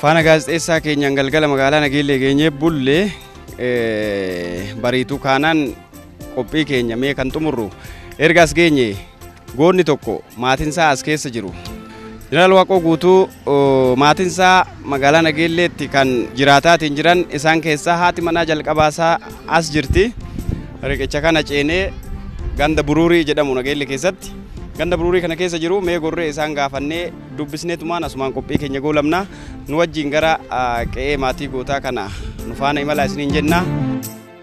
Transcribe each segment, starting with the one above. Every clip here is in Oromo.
Faana gaazexeessaa keenyaan galgala magaalaa Nageellee geenyee bulle bariituu kaanaan qophii keenya mee kan xumurru ergaas geenye Goonni tokko maatinsaa as keessa jiru. Jeneraal Waaqoo Guutuu maatinsaa magaalaa Nageelleetti kan jiraataatiin jiran isaan keessaa haati manaa jalqabaasaa as jirti. Riqicha kana ceenee ganda buruurii jedhamu Nageelle keessatti. Ganda buruurii kana keessa jiru mee gorree isaan gaafannee dubbisnee tumaan asumaan qophii keenya goolabna. Nu wajjin gara qe'ee maatii gootaa kana nu faana imalaa isiniin jenna.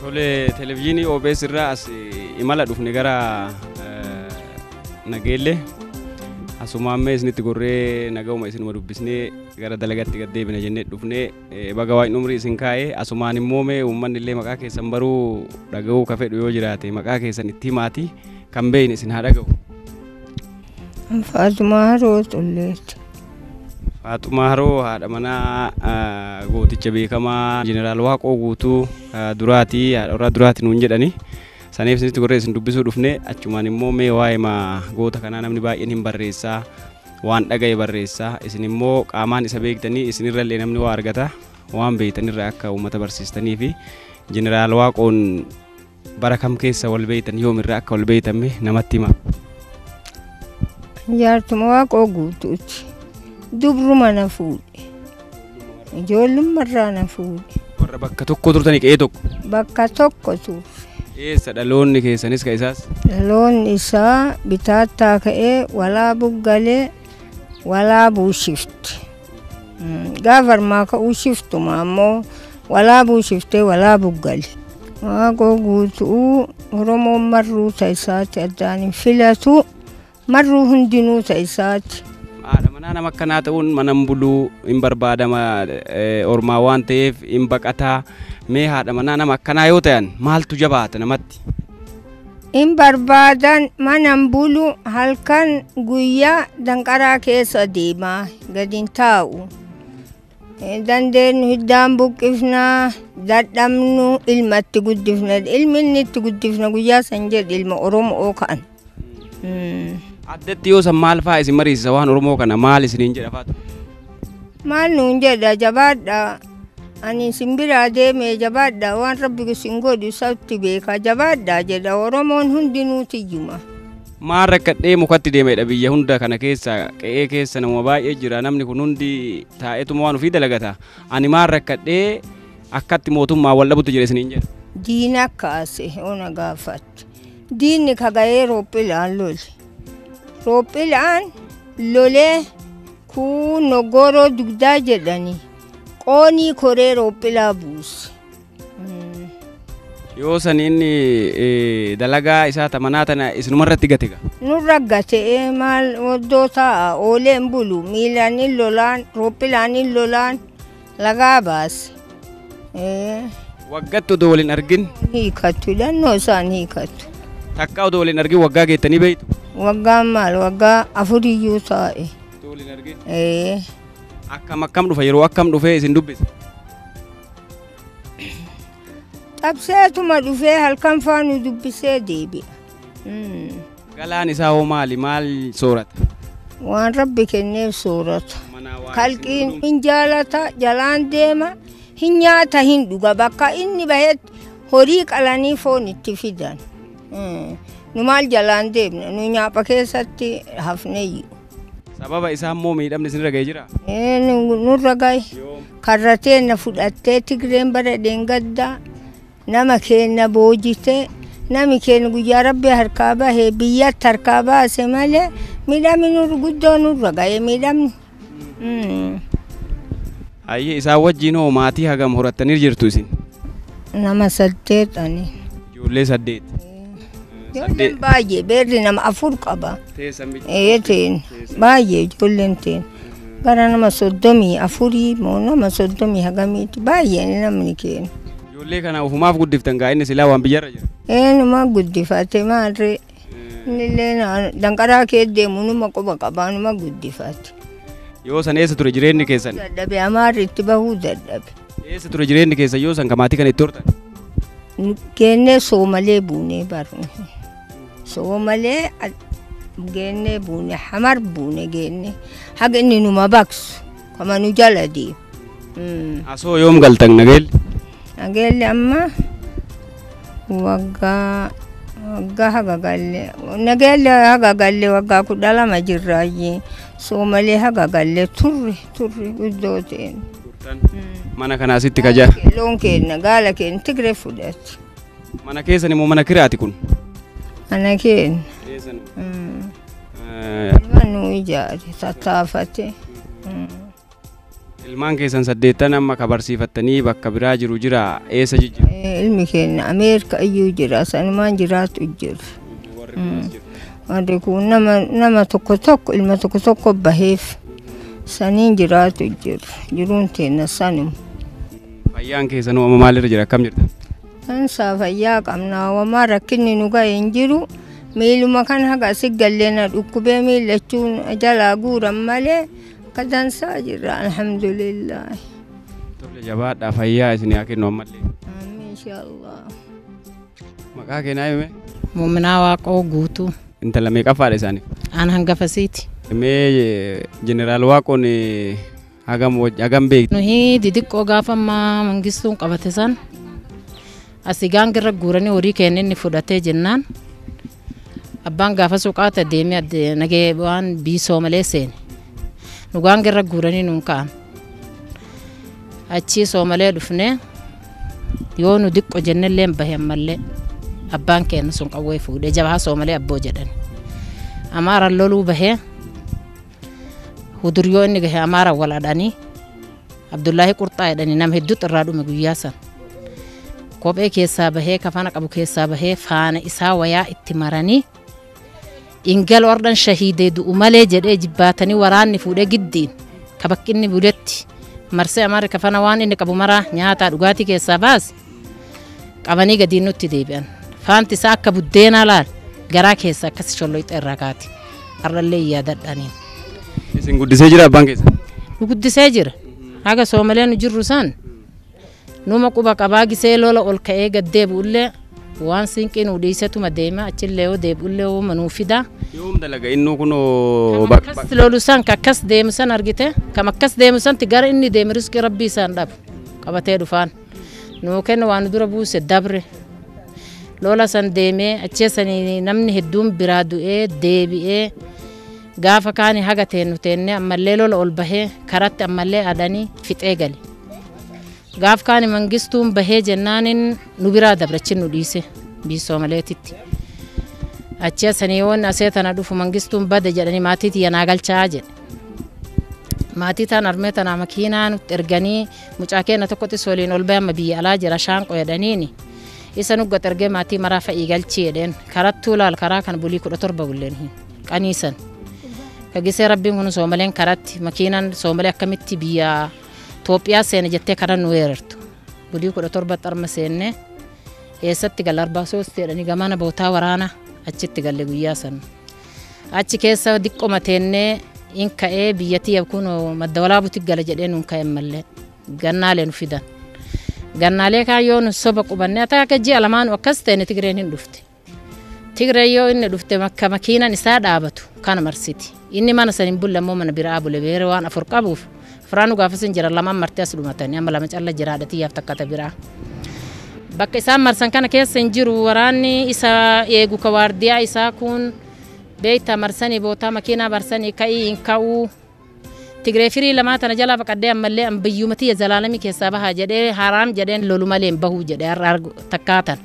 Tole televizyiinii OBS irraa as imala dhufne gara Nageellee asumaan mee isinitti gorree nagahuma isinuma dubbisnee gara dalagaatti gad deebina jennee dhufnee baga waa'in umrii isin kaa'ee asumaan immoo mee uummanni illee maqaa keessan baruu dhaga'uu ka fedhu yoo jiraate maqaa keessan itti himaatii kan beeyne isin haa dhaga'u. Faaxumaa Haroo Xulleetti. Faaxumaa Haroo haadha manaa ah, gooticha beekamaa Jeneraal Waaqoo Guutuu ah, duraati haadha warraa duraati nuun jedhani. Saniif isinitti gorree isin dubbisuu dhufne achumaan immoo mee waa'ee ma goota kanaa namni baay'een hin barreessaa waan dhaga'e barreessaa isin immoo qaamaan isa beektanii isinirra illee namni waa argata waan beektanirra akka uummata barsiistanii fi Jeneraal Waaqoon Bara kam keessa wal beektan yoomirraa akka wal beektan mee namatti himaa. Jaartuma waaqoo guutuuti. Dubruma na fuudhe. Ijoollummarraa na fuudhe. Warra bakka tokko turtanii qe'ee tokko. Bakka tokko ture. Eessa dhaloonni keessanis ka isaas? Dhaloonni isaa bitaattaa ka'ee walaa buggalee Walaabuu shifti. Gaafa armaa ka'uu shiftuma ammoo walaabuu shiftee walaabuu gali. Waaqoo guutuu Oromoon marruu ta'isaati addaan hin filatu. Marruu hundinuu ta'isaati. Haadha manaa nama akkanaa ta'uun manan buluu hin barbaadama ormaa waan ta'eef hin baqataa mee haadha manaa nama akkanaa yoo ta'an maaltu jabaata namatti? In barbaadan manan bulu halkan guyyaa danqaraa keessa deemaa gadi hin taa'u. Dandeenyu hiddaan buqqifnaa dadhabnu ilma itti guddifna ilmi inni itti guddifna guyyaa san jedhe ilma Oromoo ka'an. Addatti yoo san maal fa'aa isin mariisisa waan Oromoo kana maal isiniin jedha faatu? Maal nuun jedha jabaadha. Ani isin biraa deemee jabaadha waan rabbi isin godhu isatti beeka jabaadha jedha Oromoon hundinuu tiyyuma. Maal rakkadhee mukatti deemedha biyya hunda kana keessa qe'ee keessa nama baay'ee jira namni kun hundi taa'eetuma waan ofii dalagata ani maal rakkadhee akkatti mootummaa wal dhabutti jira isiniin jedha. Diina akkaase ona gaafatte. Diinni kagayee roophilaan lole. Roophilaan lolee kuun noggooroo dugdaa jedhanii. Qoonii koree roophilaa buusi. Yoo san inni eh, dalagaa isaa tamanaa tana isinuma irratti gate gaa. Nurra gatee maal oddoo ta'a oolee hin bulu miilaan hin lolaan roophilaan hin lolaan lagaa baasi. Eh, Waggatti odoo waliin argin Hiikatu dhannoo isaan hiikatu. takka odoo waliin argin waggaa geettanii beektu. Waggaan maal waggaa afuriyyuu taa'e. Odoo waliin argin. Eh, Akkam akkam dhufa yeroo akkam dhufee isin dubbisa. Xabseetuma dhufee halkan faa nu dubbisee deebi'a. Mm. Galaan isaa hoo maali? Maal soorata? Waan rabbi kenneef soorata. Manaa waan Kalqiin isin hin jaalata jalaan deema hin nyaata hin dhuga bakka inni bahetti horii qalanii foon itti fidan. Mm. Nu maal jalaan deemna nu nyaapha keessatti hafneyyu. Sababa isaa immoo miidhamni isinirra ga'ee jira? Ee, nu- nurra gahe karra teenna fudhattee tigreen bara dheengaddaa nama keenna boojitee nami keenna guyyaa rabbi harkaa bahe biyyatti harkaa baase malee miidhamni nurra guddoo nurra gahe miidhamni. Mm. Hayyee isaan wajjiin hoo maatii hagam horattanii jirtu isin? Nama saddeet ani. Ijoollee saddeet. Ijoolleen baay'ee beerri nama afur qaba. Teessan bicha. Ee teen baay'ee ijoolleen teen gara nama soddomii afurii moo nama soddomii hagamiiti baay'ee namni keenya. Ijoollee kana ofumaaf guddiftan gaa inni silaa waan biyyarra jira. Eenuma guddifate maarree. Innillee danqaraa kee deemu numa quba qabaa numa guddifate. Yoo san eessa ture jireenyi keessan? Dadhabe amaarri itti bahuu dadhabe. Eessa ture jireenyi keessan yoo san kamaatii kana itti hortan? Geennee soomalee buunee barne. Soomalee geennee buune hamar buune geennee haga inni numa baksu. kama nu jala deemu. Mm. Asoo yoom galtan nageelli? Nageelli amma waggaa waggaa haga galle nageelli haga galle waggaa kudha lama jirraayyee soomalee haga galle turre turre guddoo ta'een. Mana kanaa sitti kajaa. Loon keenna gaala keenna tigre fudhatti. Mana keessan immoo mana kiraati kun? Mana keenya. Eessan? Nama nu ijaare tattaafate. Ilmaan keessan saddeettan amma ka barsiifattanii bakka biraa jiru jira eessa jijjiru? Ilmi keenya Ameerika iyyuu jira sanumaan jiraatu jiru. Warri kun nama nama tokko tokko ilma tokko tokko baheef saniin jiraatu jiru. Jiruun teenna sanuma. Fayyaan keessanoo amma maalirra jira akkam jirta? Ansaa fayyaa qabna wamaa rakkinni nu ga'e hin jiru miiluma kan haga asi gallee na dhukkubee miillachuun jalaa guuran malee akka dansaa jirra alhamdulillah. Tole jabaadhaa fayyaa isin haa kennu ammallee. Amiin inshaallah. Maqaa keenaa hime Muuminaa Waaqoo guutuu intala meeqaffaadha isaanii? aan hangafasiiti. Mee jeneraal Waaqoon Hagam wajji hagam beekti. Nuhi didiqqoo gaafa ammaa mangistuun qabate san asii gaangirra guuranii horii keenya inni fudhatee jennaan abbaan gaafa suuqaata deemee adde nagee waan biisoo malee seene nu gaangirra guuranii nuun ka'an achii soomalee dhufnee yoo nu diqqo jennellee hin bahe ammallee abbaan keenya sun qawwee fuudhee jabaa soomalee abboo jedhan amaaran loluu bahee Huduriyoo inni gahe Amaara wal adhanii Abdullaahii Qurxaa jedhanii nama hedduutu irraa dhume guyyaa san. Kophee keessaa bahee kafana qabu keessaa bahee faana isaa wayaa itti maranii ingal ordhan shahiidee du'u malee jedhee jibbaatanii waraanni fuudhee giddiin ka bakki inni buletti marsee Amaarri kafana waan inni qabu maraa nyaataa dhugaatii keessaa baase qabanii gadiin nutti deebi'an. Faanti isaa akka buddeenaa laal garaa keessa akkasi sholloyxe irraa kaati. Har'allee yaadadhaaniin. Isin guddisee jira abbaan keessa. Nu guddisee jira. Haga soomalee nu jirru san numa quba qabaa gisee lola ol ka'ee gad deebi'ullee waan siinqii nu dhiisetuma deema achillee yoo deebi'ullee uuma nuu fidaa. Yoom dalaga innuu kunoo Kam akkas lolu san ka akkas deemu san argite kam akkas deemu santi gara inni deemu riskii rabbii isaan dhabu qabatee dhufaan. nuu kenna waa nu dura buuse dabre lola san deemee achee sanii namni hedduun biraa du'ee deebi'ee gaafa kaani haga teennu teennee ammallee lola ol bahee karatti ammallee adanii fixee gale gaaf kaani mangistuun bahee jennaanin nu biraa dabre achi nu dhiise biisoo maleetitti achee sanii yoon asee tana dhufu mangistuun bade jedhanii maatii tiyya naa galchaa jedhe maatii taan armee tanaa makiinaa nutti erganii Mucaa keenna tokkotis waliin ol bahe amma biyya alaa jira shaanqo jedhaniini. Isa nuggat ergee maatii maraa fa'ii galchii jedheen karattuu laal karaa kan bulii kudha torba bulleen hin qaniisan. Kagisee rabbiin kun soomaleen karatti makiinan soomalee akkamitti biyya Itoophiyaa seena jettee karaa nu weerartu. Bulii kudha torba xarma seenne eessatti gala arbaa soostii jedhanii gamana bootaa waraana achitti galle guyyaa sana. Achi keessa diqqoma teennee in ka'ee biyyattii yabkuun madda walaabuutti gala jedhee nuun ka'e mallee gannaalee nu fidan. Gannaalee kaan yoo nu soba qubannee ata akka ji'a lamaanu akkas ta'e Tigreen hin dhufte. Tigreen yoo inni dhufte makka makiinan isaa dhaabatu kana marsiti. Inni mana san hin bulle ammoo mana biraa bule beera waan afur qabuuf Firaanu gaafasin jira lamaan marti as dhumatani amma lama calla jira haadha tiyyaaf takka ta biraa. Bakka isaan marsan kana keessa hin jiru waraanni isa eegu ka waardiyaa isaa kun beeyta marsanii bootaa makiinaa barsanii ka'ii hin ka'uu. Tigree firii lamaa tana jalaa baqadhee ammallee an biyyuma tiyya zalaalamii keessaa bahaa jedhee haraam jedheen lolu malee hin bahuu jedhee har'a argu takkaa tan.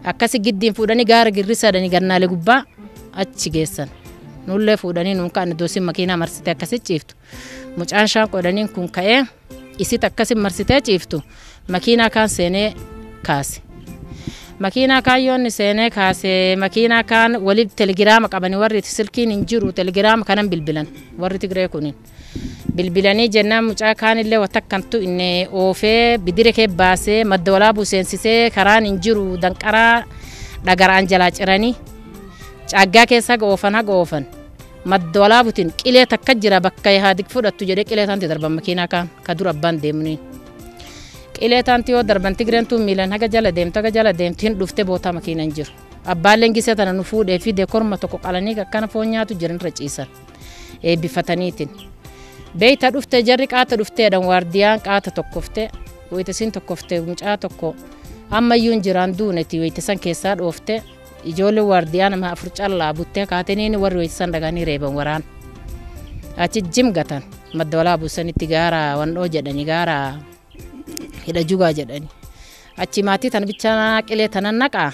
Akkasi giddiin fuudhanii gaara girrisaadhanii gannaalee gubbaa achi geessan. Nullee fuudhanii nuun ka'an iddoo isin makiinaa marsite akkasi ciiftu. Mucaan shaan qodaniin kun ka'ee isit akkasin marsitee ciiftu makiinaa kaan seenee kaase. Makiinaa kaan yoonni seenee kaase makiinaa kaan wali telegiraama qabani warri silkiin hin jiru telegiraama kanan bilbilan warri Tigree kunin. Bilbilanii jennaan mucaa kaanillee watakkantu inni oofee bidire kee baasee madda walaabuu seensisee karaan hin jiru danqaraa dhagaraan jalaa ciranii caaggaa keessa haga oofan haga oofan. Madda Walaabutiin qilee takka jira bakka Ihaadig fudhattu jedhee qilee taanti darban makiinaa kaan ka dur abbaan deemniin. Qilee taanti yoo darban Tigreen tuun miilan haga jala deemtu haga jala deemtu hin dhufte bootaa makiina hin jiru. Abbaan leengisee tana nu fuudhee fide korma tokko qalanii akkana foon nyaatu jiran irra ciisan. Eebbifataniitiin. Beeyta dhufte jarri qaata dhufteedhan waardiyaan qaata tokkofte wayitasiin tokkofte mucaa tokko ammayyuu hin jiraan duuneti wayitasan keessaa dhoofte Ijoolleen waardiyaa nama afur callaa buttee kaatiniin warri weessisan dhaqanii reeban waraan. Achi jim gatan madda walaa buusanitti gaara wandhoo jedhani gaara hidha jugaa jedhani. Achi maatii tana bichaa qilee tana naqaa.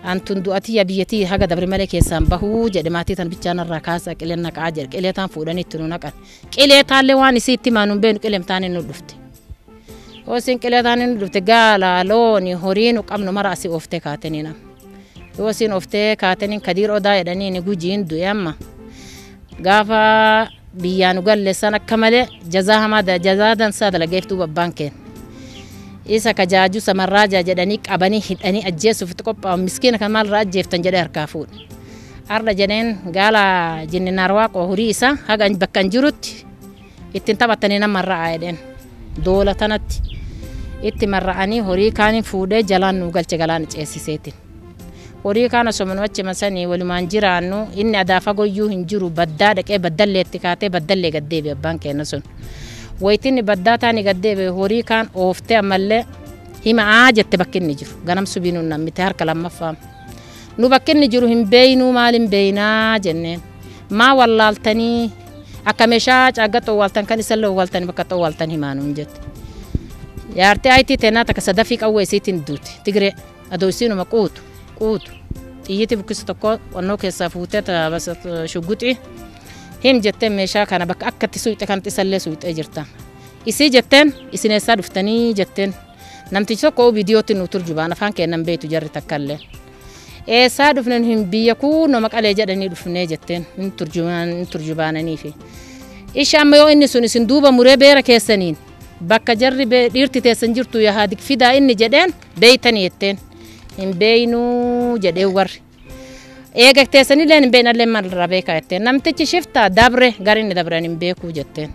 Antun du'atii yaa biyyatii haga dabre malee keessaan bahuu jedhe maatii tana bichaa narraa kaasaa qilee naqaa jedhe qilee taan fuudhanii itti nu naqan. Qilee taallee waan isii itti maanuun beenu qileem taanee nu dhufte. Yoo isin qileetaan inni dhufte gaala, looni, horii nu qabnu mara asii ooftee kaatanii nam. Yoo isin ooftee kaatanii kadiir odaa jedhanii inni gujiin du'e amma. Gaafa biyyaa nu galleessan akka malee jazaa hamaa da- jazaa dansaa dalageef duuba abbaan keenya. Isa ka jaajuu samarraajaa jedhanii qabanii hidhanii ajjeesuuf itti qophaa'u miskiina kan maalirraa ajjeeftan jedhee harkaa fuudhe. Arda jedheen gaala jinni naarwaaqoo horii isaa haga bakka hin jirutti Ittiin taphattanii nan marra'a jedheen. Doola tanatti itti marra'anii horii kaaniin fuudhee jalaan nuu galche galaana ceessiseetiin. Horii kaan osoo manuma achima sanii walumaan jiraannu inni adaa fagoyyuu hin jiru baddaa dhaqee baddalleetti kaatee baddallee gad deebi'e abbaan keenya sun. Wayitinni baddaa taani gad deebi'e horii kaan ooftee ammallee hima'aa jette bakki inni jiru. Ganam subii nuun nammite harka lammaffaa. Nu bakki inni jiru hin beeynuu maal hin beeynaa jenneen. Maa wallaaltanii Akka meeshaa caagga xowwaaltan kan isallee owwaaltan bakka xowwaaltan himaa nuun jette. Jaartii ayitii teenaa takka sadafii qawwee isiitiin duute. Tigiree adoo isiinuma quutu quutu xiyyiitii bukkisa tokko qonnoo keessaa fuutee shugguxii him jettee meeshaa kana bakka akka itti suuqxe kan isallee suuqxee jirta. Isii jetteen isin eessaa dhuftanii jetteen namtichi tokko viidiyootti nu turjubaan afaan keennan beektu jarri takkallee. Eessaa dhufne nu hin biyya kuunoo maqalee jedhanii dhufnee jetteen hin turjubaananiifi. Ishi amma yoo inni sun isin duuba muree beera keessaniin bakka jarri dhiirti teessan jirtu yahaadik fidaa inni jedheen beeytanii jetteen hin beeynuu jedhee warri. Eega teessanillee hin beeynallee maalirraa beekaa jetteen namtichi shiftaa dabre gara inni dabre ani hin beekuu jetteen.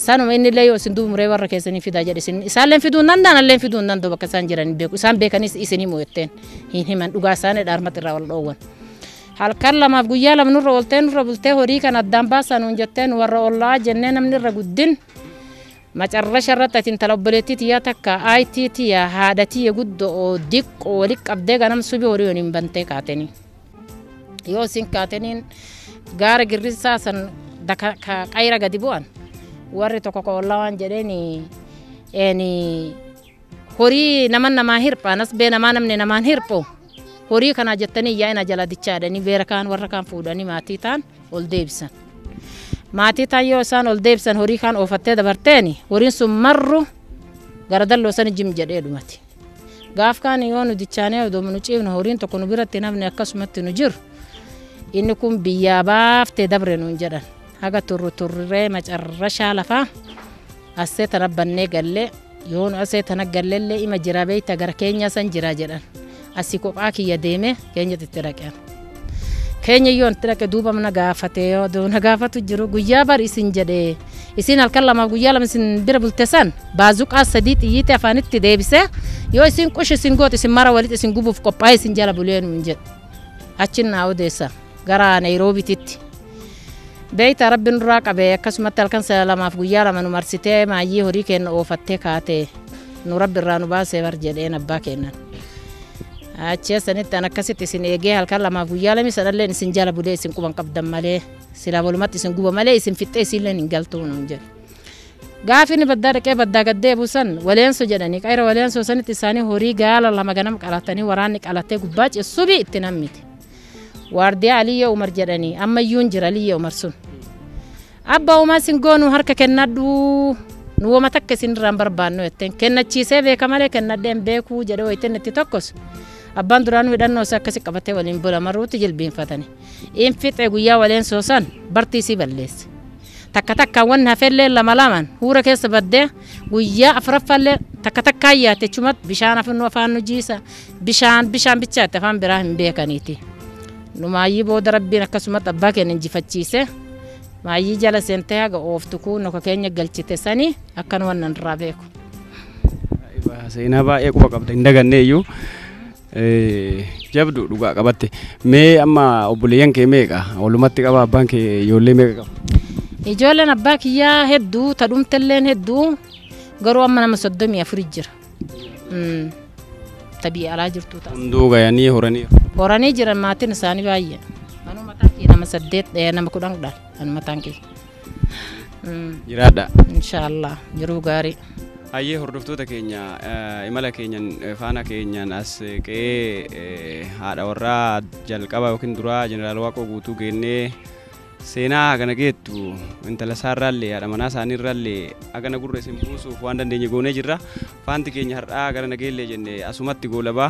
Sanuma inni illee yoo isin duuba muree warra keessanii fidaa jedhe isin isaallee fiduu hin danda'an illee fiduu hin danda'u bakka isaan jiran hin beeku isaan beekanis isinii mo'etteen hin himan dhugaa isaanii dhaarmatti irraa wal dhoowwan. Halkan lamaaf guyyaa lama nurra ooltee nurra bultee horii kan addaan baasaa nuun jettee nu warra ollaa jennee namni irra guddin macarrasha irratti ati intala obboleettii tiyyaa takka IT tiyya haadha tiyya guddoo diqqoo walitti qabdee ganam subii horii waliin bantee kaatanii. Yoo isin kaataniin gaara girrisaa san daka ka qayra gadi bu'an warri tokko ka ollaa waan jedheen eeni horii naman namaa hirphaa nasbee namaa namni namaan hirphu horii kanaa jettanii yaa'ina jala dichaadhanii beera kaan warra kaan fuudhanii maatii taan ol deebisan. Maatii taan yoo isaan ol deebisan horii kaan oofattee dabarteeni horiin sun marru gara dalloo sani jim jedhee dhumate. Gaaf kaan yoo nu dichaanee odoo nu ciifne horiin tokko nu biratti hin hafne akkasumatti nu jiru. Inni kun biyyaa baafte dabre nuun jedhan. Haga turru turree macarrashaa lafaa assee tana bannee galle yoo nu assee tana gallellee ima jira beeyta gara keenya san jira jedhan. Asii kophaa kiyya deemee keenyatti itti dhaqan. keenya yoo itti dhaqe duuba na gaafate odoo na gaafatu jiru guyyaa bar isin jedhe isin halkan lamaaf guyyaa lama isin bira bulte san baazuqaa sadii xiyyiitti afaanitti deebise yoo isin qush isin goote isin mara walitti isin gubuuf qophaa'e isin jala bulee nuun jedhe achi naa odeessa gara Naayiroobiititti. Beeyta rabbi nurraa qabe akkasumatti halkan lamaaf guyyaa lama nu marsitee maayyii horii keenya oofattee kaatee. nu rabbi irraa nu baasee bar jedheen abbaa keennan. Achee sanitti an akkasitti isin eegee halkan lamaaf guyyaa lamii sanalleen isin jala bulee isin quban qabdan malee silaa walumatti isin guba malee isin fixxee isiilleen hin galtuu nuun jedhe. Gaafi inni baddaa dhaqee baddaa gad deebi'u san waleenso jedhanii qayra waleenso sanitti isaanii horii gaala lama ganam qalatanii waraanni qalatee gubbaa cessubi itti nammite. Waardiyaa Aliyyee Umar jedhanii amma iyyuu hin jira Aliyyee Umar sun. Abba Umar sin goonu harka kennadhuu. Nu woma takka isin irraan barbaannu jetteen kennachiisee beeka malee kennadhee hin beekuu jedhee wayittiin itti tokkos. Abbaan duraanuu hidhannoo isaa akkasi qabatee waliin bula marruutti jilbiinfatani. Infixe guyyaa waleen soosan bartii isii balleesse. Takka takkaan wanni hafelleen lama lamaan huura keessa baddee guyyaa afraffaallee takka takkaan yaatti achumatti bishaan afaan nu afaan nu jiisa bishaan bishaan bichaatti afaan biraa hin beekaniiti. Nu maayyii booda rabbiin akkasumatti abbaa keenya injifachiise maayyii jala seentee haga ooftu kun noka keenya galchite sanii akkan wannan irraa beeku. Seenaa baay'ee quba qabda hin daganne iyyuu. Jabdu dhugaa qabatte. Mee amma obboleeyyan kee meeqa? Walumatti qaba abbaan kee ijoollee meeqa qaba? Ijoolleen abbaa kiyyaa hedduu tadhumtelleen hedduu garuu amma nama soddomii afuri jira. Mm. Ta biyya alaa jirtu ta'a. Hunduu gayanii horanii. Horanii jiran maatiin isaanii baay'ee. Anuu mataan kiyya nama saddeet eh, nama kudhan dha. Anuu mataan kiyya. jiraadha. Inshaallah jiruu gaarii. Hayyee hordoftoota keenya eh, imala keenyan eh, faana keenyan as eh, qe'ee eh, haadha warraa jalqaba yookiin duraa jeneraal Waaqoo guutuu geennee seenaa hagana geettu intala isaarraallee haadha manaa isaaniirraallee hagana gurra isin buusuuf waan dandeenye goonee jirra. Faanti keenya har'aa gara nageellee jenne asumatti goolabaa.